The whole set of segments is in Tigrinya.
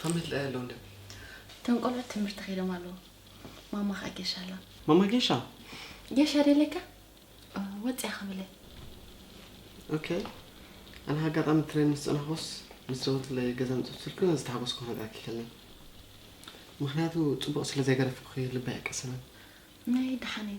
ከመይ ትለኣይ ኣለዉ እንደ እቶም ቆልዑት ትምህርቲ ከይዶም ኣለዉ ማማ ከዓ ጌሻ ኣላ ማማ ጌሻ ጌሻ ደለካ ወፅያ ክብለ ኦኬ ኣነ ኣጋጣሚ ትሬን ምስ ፀናኹስ ምስ ዘወትለይ ገዛ ምፅብ ስልኩ ዝተሓጎስኩ ክነግራ ኪከለ ምክንያቱ ፅቡቅ ስለ ዘይገረፍኩኺ ልበይ ኣይቀሰነን ናይ ደሓነይ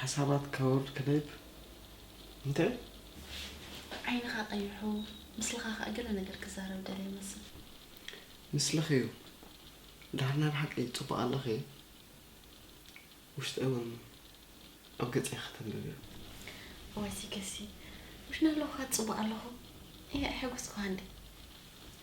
ሓሳባት ከወርድ ክነይብ እንተ። ዓይንኻ ቀይሑ ምስልኻ ከኣ ገለ ነገር ክዛረብ ደልየ ይመስል። ምስልኺ'ዩ ድሓር ናይ ብሓቂ ጽቡቕ ኣለኺ ውሽጠይ ውን ኣብ ገጸይ ከተንብብዮ። እዋይ ሲገሲ ውሽና ኣለኹ ካኣ ጽቡቕ ኣለኹ ኢለ ኣይሐጎስኩኻን ድየ።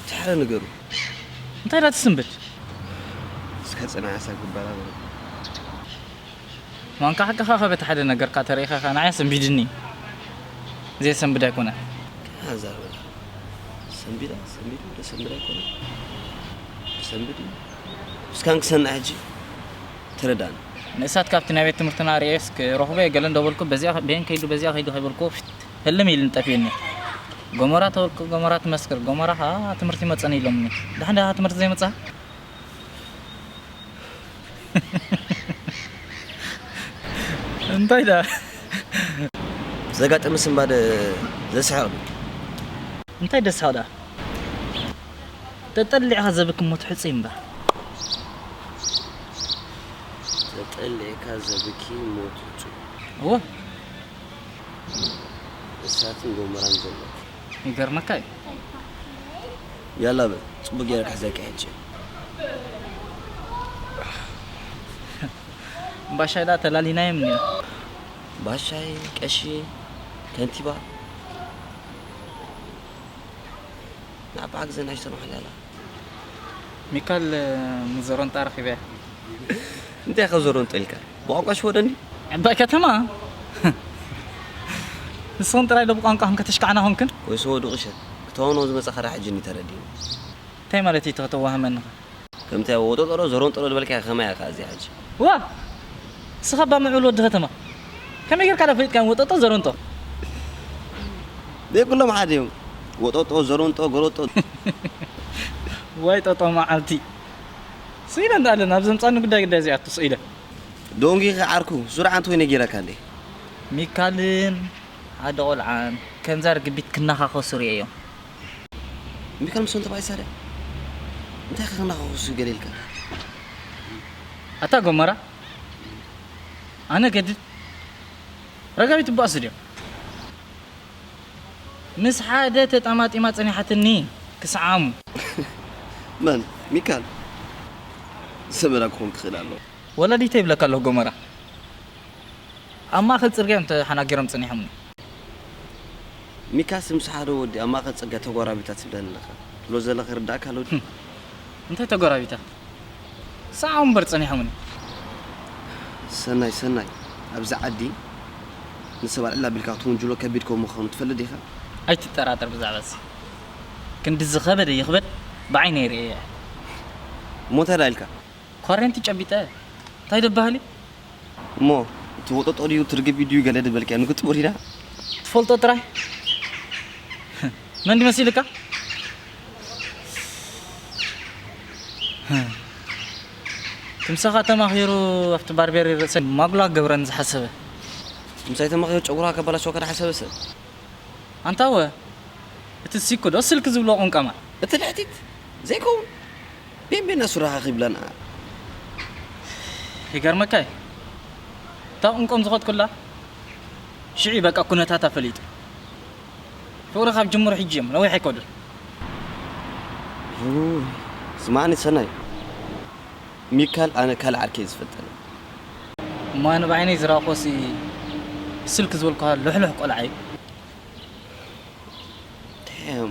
እቲ ሓደ ንገሩ። እንታይ ኢላ ትስንብድ? እስከ ጽናዕ ኣሳ ግበራ በሎ። ማንካ ሓቅኻ ከ በቲ ሓደ ነገርካ ተሪኢኻ ኢኻ ንዓይ ኣሰንቢድኒ ዘየሰንብድ ኣይኮነን። ከመይ ኣዛረበካ ሰንቢዳ ሰንቢዱ ዘሰንብድ ኣይኮነን ዘሰንብድ እዩ እስካን ክሰንዕ ሕጂ ተረዳእኒ። ንእሳት ካብቲ ናይ ቤት ትምህርትና ርእየስ ክረኽቦ እየ ገለ እንዶ በልኩ በዚኣ በየን ከይዱ በዚኣ ከይዱ ከይበልኩዎ ፊት። ህልም ኢልኒ ጠፊኡኒ ጎመራ ተወቅጥ ጎመራ ትመስክር ጎመራ ሃሃ ትምህርቲ ይመጸኒ ኢሎምኒ ድሓን ድኣ ትምህርቲ ዘይመጽኣ እንታይ ድኣ። ዘጋጠመ ስንባደ ዘስሕቕ ድዩ? እንታይ ደስሕቕ ድኣ ተጠሊዕካ ዘብኪ ሞት ሕጹይ እምበር። ተጠሊዕካ ዘብኪ ሞት ሕጹይ። እወ። እሳትን ጎመራን ዘሎ። ይገርመካ እዩ። ያላ በል ጽቡቅ ገይረ ክሕዘካ ሕጂ። ባሻይ ደኣ ተላሊናዮም እንዲና። ባሻይ ቀሺ ከንቲባ ንኣባዓ ግዘ ናይ ዝተማሓል ያላ ሚካል ንዞሮንጣ ረኺበያ። እንታይ ኢኻ ዞሮንጦ ኢልካ? ብቋንቋ ሽወደን ድዩ? ዕባይ ከተማ ንስኽን ጥራይ ዶ ብቋንቋኽን ከተሽካዕና ኮንክን? ወይ ሰወ ዱቂሸት ክተዋንዎ ዝመጻኻ ድኣ ሕጂ እንድዩ ተረዲእኒ። እንታይ ማለት ኢዩ እቲ ከተዋህመኒኸ? ከምቲ ኣብ ወጦጦሮ ዘሮንጦሮ ዝበልካያ ከማይ ኢያ ከኣ እዚኣ ሕጂ። እዋ ንስኻ እባ ምዕቡል ወዲ ከተማ ከመይ ጌርካ ድኣ ፈሊጥካዮም ወጦጦ ዘሮንጦ። ደይ ኩሎም ሓደ ኢዮም ወጦጦ ዘሮንጦ ጎሮጦ። ዋይ ጦጦ መዓልቲ። ስቅ ኢለ እንዳ ኣለ ናብ ዘምጻኒ ጉዳይ ግዳይ ዘይኣቱ ስቅ ኢለ። ዶንጊኺ ዓርኩ ሱር ዓንት ኮይነ ጌረካ እንዴ። ሚካልን ኣደ ቆልዓን ከምዛ ርግቢት ክናኻኸሱ ሪኤዮም። ሚካል ምስ ወንተባይ ሳርያ እንታይ ከ ክናኻኸሱ ገለ ኢልካ እንዳ። ኣታ ጎመራ ኣነ ገድድ ረጋቢት እባ ኣስድዮም። ምስ ሓደ ተጣማጢማ ጸኒሓትኒ ክስዓሙ። መን ሚካል ሰመራ ክኾን ክኽእል ኣለዎ። ወላዲተይ ይብለካ ኣለኹ ጎመራ። ኣብ ማእከል ጽርግያ እዮም ተሓናጊሮም ጸኒሖምኒ። ሚካስ ምስ ሓደ ወዲ ኣብ ማእከል ጽርግያ ተጓራቢታ ትብለኒ ኣለኻ ትብሎ ዘለኻ ይርድኣካ ኣሎ ድዩ? እንታይ ተጓራቢታ? ሳዓው እምበር ጸኒሖሙኒ። ሰናይ ሰናይ ኣብዚ ዓዲ ንሰብ ኣልዕል ኣቢልካ ክትውንጅሎ ከቢድ ከም ምዃኑ ትፈልጥ ዲኻ? ኣይትጠራጠር ብዛዕባ እዚ ክንዲ ዝኸበደ ይኽበድ ብዓይነይ ርእየዮ። እሞ እንታይ ደኣ ኢልካ? ኳሬንቲ ጨቢጠ እንታይ ደበሃሊ? እሞ እቲ ወጦጦ ድዩ እቲ ርግቢ ድዩ ገለ ድበልካዮ ንግጥሚ ሪዳ ትፈልጦ ጥራይ መን ድዩ መሲልካ ትምሳኻ ተማኺሩ ኣብቲ ባርቤሪ ርእሰይ ማጉላ ክገብረኒ ዝሓሰበ ትምሳይ ተማኺሩ ጨጉራ ከበላሽወካ ድሓሰበ ሰብ ኣንታወ እቲ ሲኩ ዶ ስልኪ ዝብልዎ ቁንቀማ እቲ ልሕቲት ዘይከውን። ቢንቢነ ሱራኻ ኺብለን እኣ። ይገርመካ እዩ እታ ቁምቆም ዝኸድኩላ ሽዑ እዩ በቃ ኩነታታ ፈሊጡ ፍቅሪ ካብ ጅምሩ ሕጂ እዮም ነዊሕ ኣይከዱን። ስማዓኒ ሰናይ ሚካል ኣነ ካልእ ዓርኪ እየ ዝፈልጠላ። እሞ ኣነ ብዓይነይ ዝረኣኩዎሲ ብስልኪ ዝበልኩካ ልሕሉሕ ቆልዓ እዩ። Damn።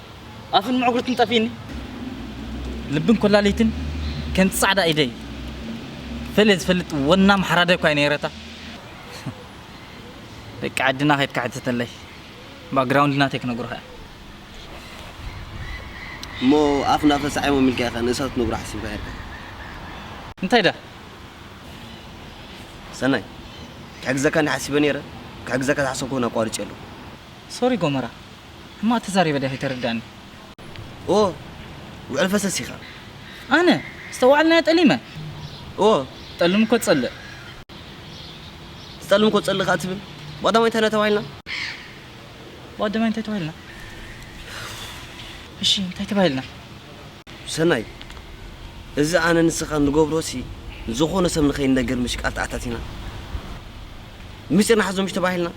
ኣፍን ምዕጉርትን ጠፊእኒ ልብን ኮላሊትን ከምቲ ጻዕዳ ኢደይ ፈልየ ዝፈልጥ ወናም ሓራዳይ እኳ ነይረታ ደቂ ዓድና ከድካ ሕተተለይ ባክግራውንድ ናተይ ክነግሩኻ እያ እሞ ኣፍ ናብ ተሳዒሞም ኢልካ ኢኻ ንእሳት ክትነግሮ ሓሲብካ ሄርካ እንታይ ድኣ ሰናይ ክሕግዘካ እንዲ ሓሲበ ነይረ ክሕግዘካ ዝሓሰብኩ እውን ኣቋሪጸ ኣለኹ ሶሪ ጎመራ ሕማቅ ተዛሪበ ድያ ከይተረዳእኒ። እዎ ውዕል ፈሰስ ኢኻ። ኣነ? ዝተዋዓልናዮ ጠሊመ? እዎ ጠልም እኮ ትጸልእ። ዝጠልም እኮ ትጸልእ ከኣ ትብል? ብቀዳማይ እንታይ ኢና ተባሂልና? ብቀዳማይ እንታይ ተባሂልና? እሺ እንታይ ተባሂልና? ሰናይ እዚ ኣነ ንስኻ ንገብሮሲ ንዝኾነ ሰብ ንኸይንነግር ምሽቃል ተኣታቲና ምስጢር ንሓዞ ምሽ ተባሂልና።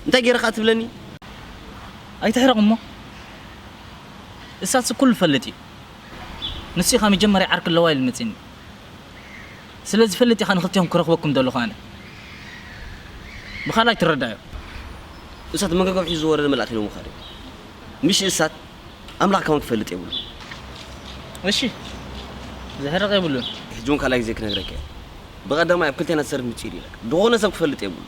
እንታይ ጌረ ከኣ ትብለኒ? ኣይትሕረቕ እሞ እሳትሲ ኩሉ ፈልጥ እዩ ንሱ ኢኻ መጀመርያ ዓርኪ ኣለዋ ኢሉ መጺኒ ስለ ዝፈልጥ ኢኻ ንኽልቴኹም ክረኽበኩም ዘለኹ ኣነ ብኻልኣይ ትረዳዮ። እሳት መንገገብ ሒዙ ዝወረደ መልኣኽ ኢሎሞ ከኣ ድዮም ምሽ እሳት ኣምላኽ ከማን ክፈልጥ የብሉን። እሺ ዘሕርቕ የብሉን። ሕጂ ውን ካልኣይ ግዜ ክነግረካ እየ ብቐዳማይ ኣብ ክልቴና ዝሰርት ምጺኢድ ኢለካ ድኾነ ሰብ ክፈልጥ የብሉን።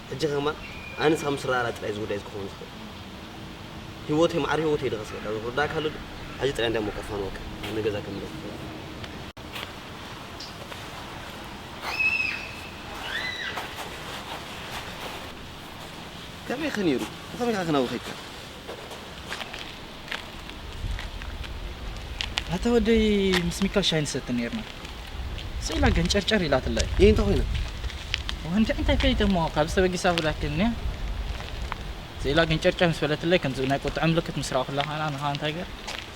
ሕጂ ከማን ኣነ ንስኻ ምስ ራራ ጥራይ ዝውዳይ እዚ ክኸውን ዝኽእል ሂወተይ ማዕረ ሂወተይ ድኻ ስለ ካብ ክርዳኣካ ኣሎ ድዩ ሕጂ ጥራይ እንዳ ሞቀርካ ንወከ ናብ ንገዛ ክምለስ ዝኽእል ከመይ ከ ኔሩ ብኸመይ ከ ክነብር ይከኣል። ኣታ ወደይ ምስ ሚካል ሻይ ንሰቲ ነርና ስኢላ ገንጨርጨር ኢላትላይ እይ እንተ ኮይና ወንዲ እንታይ ፈይተ እሞ ካብ ዝተበጊሳ ብላክኒ ስኢላ ገንጨርጨር ምስ በለትለይ ከምዚ ናይ ቁጥዐ ምልክት ምስ ረኣኹላ ከኣ ንኻ እንታይ ገር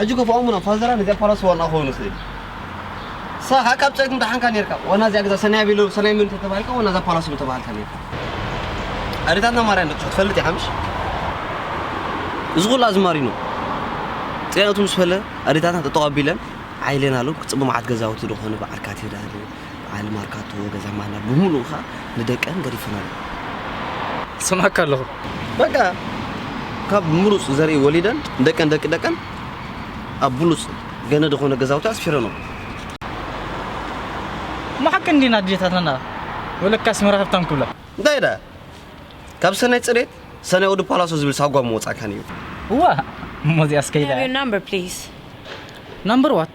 ሕጂ ከፍኦም ን ፋዘራ ንዚኣ ፓላስ ዋና ክኸውን ይኽእል እዩ ንስኻ ከኣ ካብ ጸልግም ደሓንካ ኔርካ ዋና እዚኣ ገዛ ሰናይ ኣቢሎም ሰናይ መን እንተተባሂልካ ዋና እዛ ፓላስ ምተባሃልካ ኔርካ ኣዴታትና ማርያ ንብጽሑ ትፈልጥ ኢኻ ምሽ እዚ ኩሉ ኣዝማሪኖ ጤነቱ ምስ ፈለ ኣዴታትና ጠጠው ኣቢለን ዓይለን ኣሎም ክጽብ መዓት ገዛውቲ ዶ ኮነ በዓል ካቴዳር በዓል ማርካቶ ገዛ ማና ብምሉኡ ከኣ ንደቀን ገዲፈን ኣለዋ። ይሰምዓካ ኣለኹ። በቃ ካብ ምሩጽ ዘርኢ ወሊደን ንደቀን ደቂ ደቀን ኣብ ብሉጽ ገነ ዝኾነ ገዛውቲ ኣስፊረንኦ። እሞ ሓቂ እንዲና ኣዴታትና ወለካስ ምራ ሃብታም ክብላ። እንታይ ደኣ ካብ ሰናይ ጽሬት ሰናይ ወዲ ፓላሶ ዝብል ሳጓ ምወጻካን እዩ። እዋእ እሞ እዚኣስ ከይዳ Have your እያ። number please? ናምበር ዋት?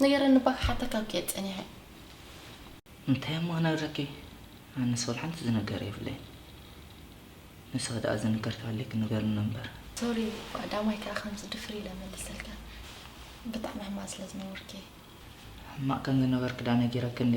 ንገረኒ እባ ክሓተካ ኣብኪ እየ ፀኒሐ እንታይ እሞ ክነግረኪ ኣነስ ወላ ሓንቲ ዝነገር የብለይ ንሳ ደኣ ዝንገር ተሃልዩ ክንገርኒ እምበር ሶሪ ዳማይ ከዓ ከምዚ ድፍር ኢለ መልሰልካ ብጣዕሚ ሕማቅ ስለ ዝነበርኪ ሕማቅ ከም ዝነበርኪ ደኣ ነጊረኪ እንዴ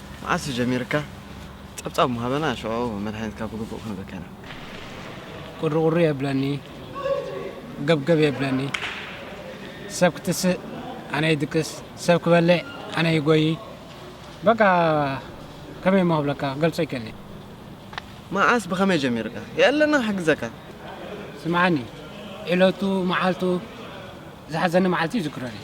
መዓስ እዩ ጀሚርካ ጸብጻብ ምሃበና ሽዑ መድሃኒትካ ብግቡእ ክንህበካ ኢና። ቁሪቁሪ የብለኒ ገብገብ የብለኒ ሰብ ክትስእ ኣነ ይድቅስ ሰብ ክበልዕ ኣነ ይጎዪ በቃ ከመይ እሞ ክብለካ ክገልጾ ይከኒ። መዓስ ብኸመይ ጀሚርካ የእለና ክሕግዘካ። ስምዓኒ ዕለቱ መዓልቱ ዝሓዘኒ መዓልቲ ይዝክሮ ነይሩ።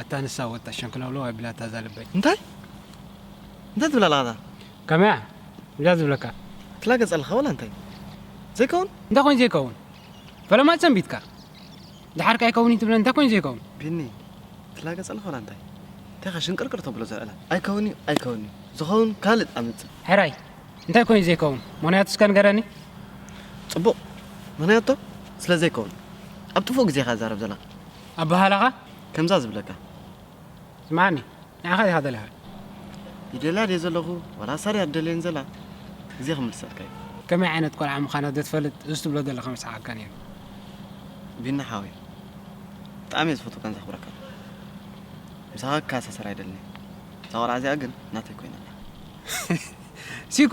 ኣታ ንሳ ወጣ ሸንክለውለው ኣቢላታ እዛ ልበይ። እንታይ እንታይ ትብል ኣለኻ እታ። ከመይ እያ እዛ ዝብለካ። ትላገጽ ኣለኻ ዋላ እንታይ ዘይከውን። እንታይ ኮይኑ ዘይከውን ፈለማ ሰንቢትካ ድሓር ከ ኣይከውን እዩ ትብለኒ እንታይ ኮይኑ ዘይከውን። ቢኒ ትላገጽ ኣለኻ ዋላ እንታይ እንታይ ከ ሽንቅርቅር ተብሎ ዘዕላ ኣይከውን እዩ ኣይከውን እዩ ዝኸውን ካልእ ኣምጽእ። ሕራይ እንታይ ኮይኑ ዘይከውን ምክንያቱ እስከ ንገረኒ። ጽቡቕ ምክንያቱ ስለ ዘይከውን ኣብ ጥፉእ ግዜኻ ትዛረብ ዘለኻ። ኣበሃህላኻ ከምዛ ዝብለካ ስምዓኒ ንዓኻ ዲኻ ደሊኻ? ይደልያ ድየ ዘለኹ ዋላ ሳርያ ትደልየኒ ዘላ ግዜ ክምልሰልካ እዩ። ከመይ ዓይነት ቆልዓ ምዃና ዶ ትፈልጥ እዚ ትብሎ ዘለኻ ምስሓቐካ ነይሩ። ቢኒ ሓወይ ብጣዕሚ እየ ዝፈትወካን ዘኽብረካን ምሳኻ ክከኣሳሰር ኣይደልን እየ እዛ ቆልዓ እዚኣ ግን ናተይ ኮይና ኣላ። ሲኮ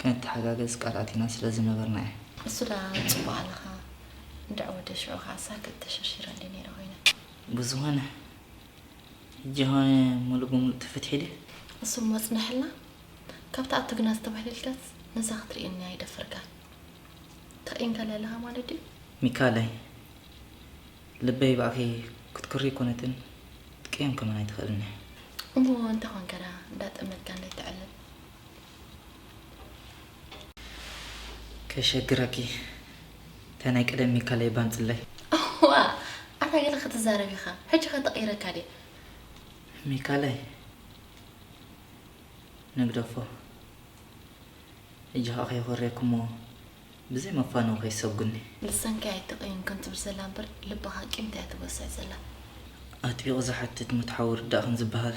ከንተሓጋገዝ ቃል ኣቲና ስለ ዝነበርና እየ። ንሱ ደኣ ጽቡቕ ኣለኻ እንድዒ ወደይ ሽዑ ከኣ ሳክት ተሸርሺረ እንድየ ነይረ ኮይነ። ብዝኾነ ሕጂ ኾነ ምሉእ ብምሉእ ተፈቲሑ ድዩ? ንሱ እሞ ጽነሐልና ካብታ ኣቶ ግና ዝተባህለልካስ ነዛ ክትርእየኒ ኣይደፈርካን። ተቂንካ ዶ ኣለኻ ማለት ድዩ? ሚካኣለይ ልበይ ብኣኺ ክትኩሪ ኣይኮነትን ክትቅየም ከማን ኣይትኽእልን እያ። እሞ እንታይ ኮንካ ደኣ እንዳጠመትካኒ እተዕልል? ከይሸግረኪ እታ ናይ ቀደም ሚካለይ ባንጽለይ። እዋእ ኣታ ገለ ክትዛረብ ኢኻ ሕጂ ከ ተቀይረካ ድየ። ሚካለይ ንግደፎ ሕጂ ከኣ ከየኾርየኩሞ ብዘይ መፋነዊ ከይትሰጉኒ። ልሳንኪ ኣይትቀይምክን ትብል ዘላ እምበር ልብኻ ቂምታ እያ ትጎስዕ ዘላ። ኣጥቢቑ ዝሓትት ሞት ሓዊ ርዳእክን ዝበሃል።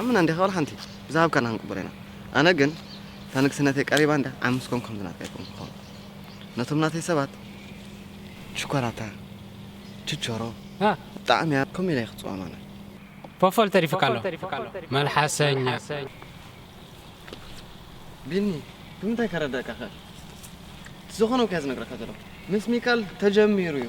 ኣመና እንዲኻ ዋላ ሓንቲ ብዝሃብካና ክንቅበሎ ኢና ኣነ ግን እታ ንግስነተይ ቀሪባ እንድያ ዓሚ ምስ ኮንኩ ከምዚ ናትካ ኣይኮንኩን ክኸውን ነቶም ናተይ ሰባት ሽኮላታ ችቾሮ ብጣዕሚ እያ ከምኡ ኢለ እየ ክጽዋም ኣነ ፎፎል ተሪፉካ ኣሎ መልሓሰኛ። ቢኒ ብምንታይ ከረደኣካ ክእል እቲ ዝኾነውካዮ ዝነግረካ ዘለኹ ምስ ሚካል ተጀሚሩ እዩ።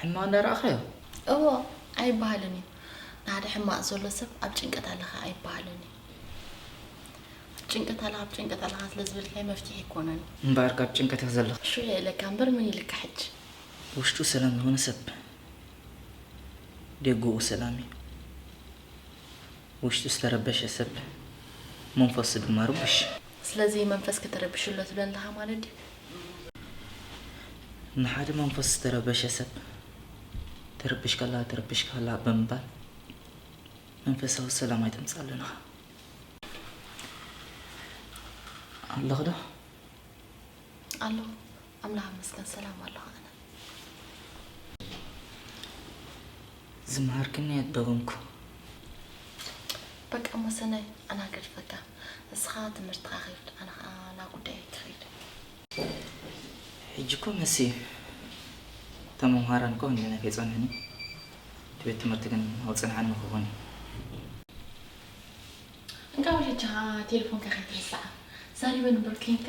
ሕማቕ እንዳረኣኻዮ? እዎ ኣይበሃልን እዩ። ንሓደ ሕማቕ ዘሎ ሰብ ኣብ ጭንቀት ኣለኻ ኣይበሃልን እዩ። ኣብ ጭንቀት ኣለኻ ኣብ ጭንቀት ኣለኻ ስለ ዝበልካዮ መፍትሒ ኣይኮነን። እምበኣር ካብ ጭንቀት ኢኻ ዘለኻ። ሽዑ እየ ኢለካ እምበር ምን ኢልካ ሕጂ። ውሽጡ ሰላም ዝኾነ ሰብ ደጉኡ ሰላም እዩ። ውሽጡ ዝተረበሸ ሰብ መንፈሱ ድማ ርቡሽ። ስለዚ መንፈስኪ ተረቢሹ ኣሎ ትብለኒ ኣለኻ ማለት ድዩ? ንሓደ መንፈሱ ዝተረበሸ ሰብ ተረቢሽካ ኣለኻ፣ ተረቢሽካ ኣለኻ ብምባል መንፈሳዊ ሰላም ኣይተምጽኣሉን ኢኻ። ኣለኺ ዶ? ኣለኹ። ኣምላኽ ይመስገን ሰላም ኣለኹ ኣነ። ዝመሃርክኒ ኣደገምኩ። በቃ እሞ ሰናይ ኣና ገድፈካ እስኻ ትምህርትኻ ኺድ ኣነ ኸኣ ናብ ጉዳየይ ክኺድ። ሕጂ እኮ መሲ እታ መምሃራን እኮ ክንደየናይ ከይጸንሑኒ እቲ ቤት ትምህርቲ ግን ኣውጽንሓኒ ክኾን እዩ። እንቃዕ ሕጂ ኸኣ ቴለፎንካ ከይትርስዓ ዛሪበን እምበር ኴንካ።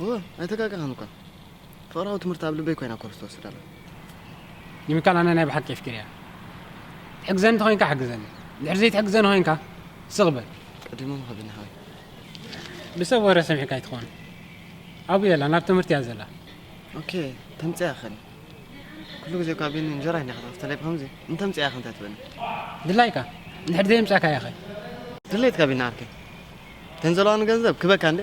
እወ ኣይተጋገኻን እኳ ፍቕራዊ ትምህርቲ ኣብ ልበይ ኮይና ኮርስ ትወስድ ኣላ። ኒሚካል ኣነ ናይ ብሓቂ የፍቂረያ ትሕግዘኒ እንተኮይንካ ሓግዘኒ ድሕሪ ዘይትሕግዘኒ ኮይንካ ስቕ በል ቀዲሙ ምኸብኒ ሓወይ ብሰብ ወረ ሰሚዕካ ኣይትኾን ኣብኡ የላ ናብ ትምህርቲ እያ ዘላ ኦኬ ተምፅያ ኸን ኩሉ ግዜ እኳ ቤኒ እንጀራ ኢና ከተኸፍተለይ ብከምዚ እንተምፅያ ኸ እንታይ ትበኒ ድላይካ እንድሕር ዘየምፃእካ ያኸ ድሌትካ ቢና ዓርከይ ተን ዘለዋኒ ገንዘብ ክበካ እንደ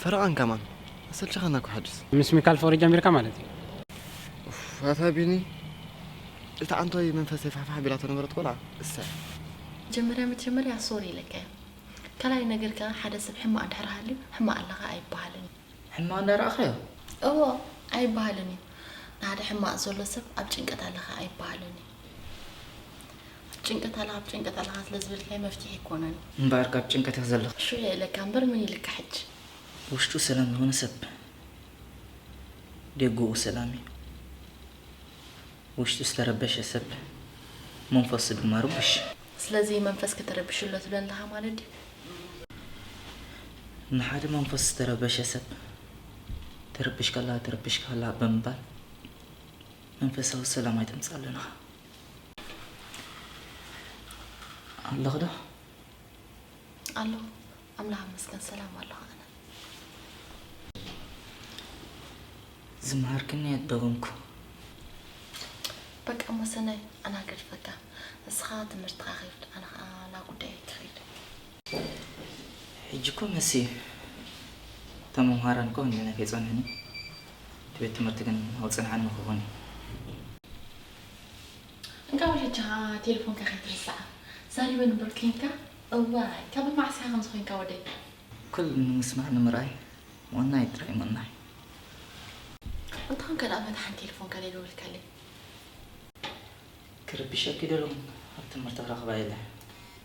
ፈረቃን ከማን ኣሰልቸኻና እኮ ሕጅስ። ምስ ሚካል ፍቅሪ ጀሚርካ ማለት እዩ። ኡፍ ኣታ ቢኒ እታ ኣንታይ መንፈሰይ ፋሕፋሕ ኣቢላቶ ዝነበረት ቆልዓ እሰይ። መጀመርያ መጀመርያ ሶሪ ኢለካ እየ ካልኣይ ነገር ከኣ ሓደ ሰብ ሕማቅ እንድሕር ሃልዩ ሕማቅ ኣለኻ ኣይበሃልን እዩ። ሕማቅ እንዳ ረኣኻዮ? እዎ ኣይበሃልን እዩ። ንሓደ ሕማቅ ዘሎ ሰብ ኣብ ጭንቀት ኣለኻ ኣይበሃልን እዩ። ጭንቀት ኣለኻ ብጭንቀት ኣለኻ ስለ ዝበልካይ መፍትሒ ኣይኮነን እምበኣር ካብ ጭንቀት ኢኺ ዘለኺ። እሹ እየ ኢለካ እምበር ምን ኢልካ ሕጂ። ውሽጡ ሰላም ዝኾነ ሰብ ደገኡ ሰላም እዩ። ውሽጡ ዝተረበሸ ሰብ መንፈሱ ድማ ርቡሽ። ስለዚ መንፈስኪ ተረቢሹ ኣሎ ትብለኒ ኣለኻ ማለት ድዩ? ንሓደ መንፈሱ ዝተረበሸ ሰብ ትርብሽካ ኣለኻ ትርብሽካ ኣለኻ ብምባል መንፈሳዊ ሰላም ኣይተምጻለና ኣለኽ ዶ ኣለኹ ኣምላኽ መስገን ሰላም ኣለኹ ኣነ ዝመሃርክኒ ኣደጎምኩ በቃ መሰናይ ኣናገድፈካ ንስኻ ትምህርትኻ ኺድ ኣነ ኸዓ ናብ ጉዳይ ክኸይድ ሕጂ እኮ መሲ እቶም መምሃራን እኮ ክንደየናይ ከይጸንሑኒ እቲ ቤት ትምህርቲ ግን ኣብ ጽንዓን ንክኾን እዩ። እንቃዕ ወለድካ ቴለፎንካ ከይትርስዓ ዛሪበን እምበር ኴንካ እዋይ ካብ መዓስ ኢካ ከምዚ ኾይንካ ወደይ። ኩሉ ንምስማዕ ንምርኣይ ምቕናይ ጥራይ ምቕናይ። እንተኾንካ ደኣ መታሕን ቴለፎንካ ደልወልካለይ። ክርብሸኪ ደለኹ ኣብ ትምህርቲ ክረኽባ ኢለ።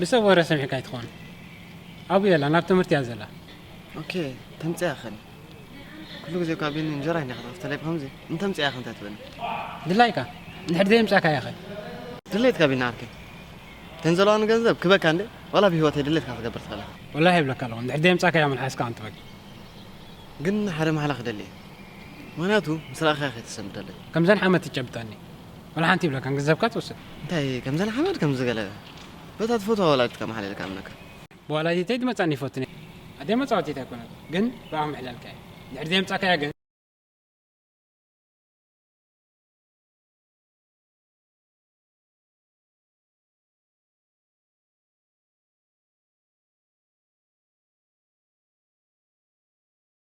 ብሰብ ወረ ሰሚዕካ ኣይትኾን ኣብኡ የላ ናብ ትምህርቲ እያ ዘላ ኦኬ ተምፅያ ኸን ኩሉ ግዜ እኳ ቢኒ እንጀራ ኢና ከተኸፍተለይ ብኸምዚ እንተምፅያ ኸ እንታይ ትብል ድላይካ ንድሕር ዘየምፃእካያ ኸ ድሌትካ ቢኒ ዓርከይ ተን ዘለዋ ንገንዘብ ክበካ እንደ ዋላ ብሂወተይ ድሌትካ ክትገብር ትኽእል ኢኻ ወላሂ ይብለካ ኣለኹ ንድሕር ዘየምፃእካያ መልሓስካ ኣንትበግ ግን ሓደ ማሕላ ክደሊ እየ ምክንያቱ ምስ ረኣኻያ ከይተሰምደለይ ከምዘን ሓመት ትጨብጠኒ ወላ ሓንቲ ይብለካን ገንዘብካ ትወስድ። እንታይ ከምዘን ሓመድ ከምዚ ገለ በታ ትፈትዋ ወላዲትካ ማሓለልካ እምነካ። ብወላዲተይ ድመጻኒ ይፈቱ ነይረ ኣደይ መጻወቲት ኣይኮነትን ግን ብኣ ምሕላልካ እዩ እንድሕር ዘየምጻካያ ግን።